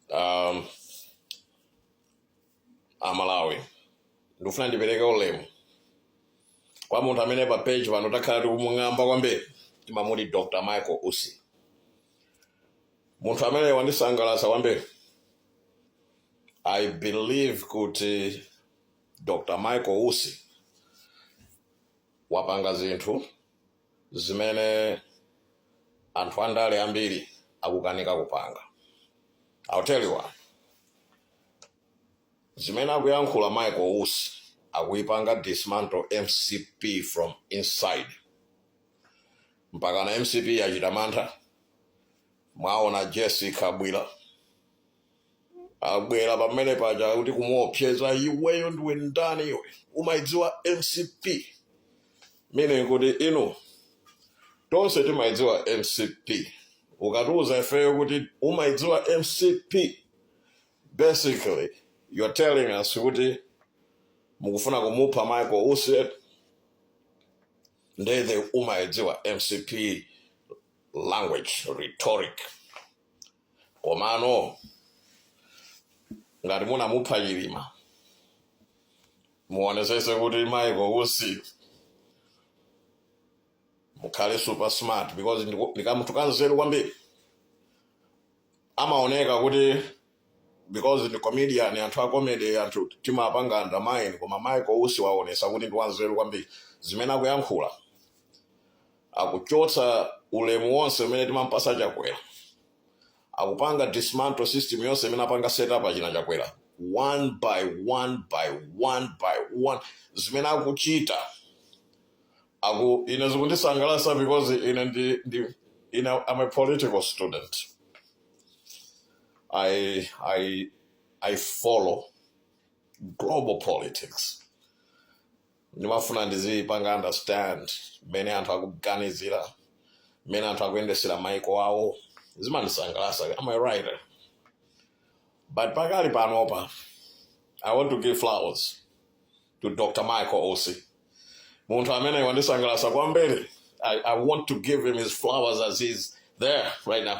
um, amalawi ndikufuna ndipereke ulemu kwa munthu amene pa page pano takhala tikumung'amba kwambiri timamuti dr michael usi munthu amene wandisangalatsa kwambiri i believe kuti dr michael usi wapanga zinthu zimene anthu andale ambiri akukanika kupanga I'll tell you why zimene akuyankhula Michael Usi akuyipanga dismantle mcp from inside mpakana mcp yachita mantha mwaona jesse kabwila abwera pomwe paja kuti kumuopseza iweyo ndiwe ndani iwe umaidziwa mcp meaning kuti inu tonse timaidziwa mcp ukatiuza ifeyo kuti umaidziwa mcp basically you're telling us kuti mukufuna kumupha michael usi ndiye eti umaidziwa mcp language rhetoric Komano ngati munamupha Chilima muonesese kuti Michael Usi mukhale super smart because ndiku- ndikamunthu kanzeru kwambiri amaoneka kuti because ndi comedian anthu a comedy anthu timapanga undermine koma Michael Usi waonesa kuti ndi kanzeru kwambiri zimene akuyankhula akuchotsa ulemu wonse umene timampasa chakwera akupanga dismantle system yonse imene apanga set up achina chakwera one by one by one by one zimene akuchita ine zikundisangalasa because ine ndi, ndi ine I'm a political student I, I, I follow global politics ndimafuna ndizipanga understand mmene anthu akuganizira mmene anthu akuyendesera maiko awo zimandisangalasa am a writer but pakali panopa i want to give flowers to dr michael usi munthu amene wandisangalasa kwambiri I, i want to give him his flowers as he's there right now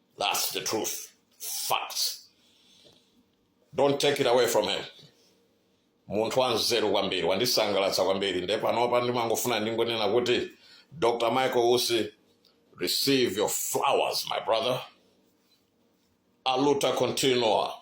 That's the truth. Facts. Don't take it away from him. munthu wanzeru kwambiri wandisangalatsa kwambiri nde panopa ndimangofuna ndingonena kuti dr michael usi receive your flowers my brother aluta continua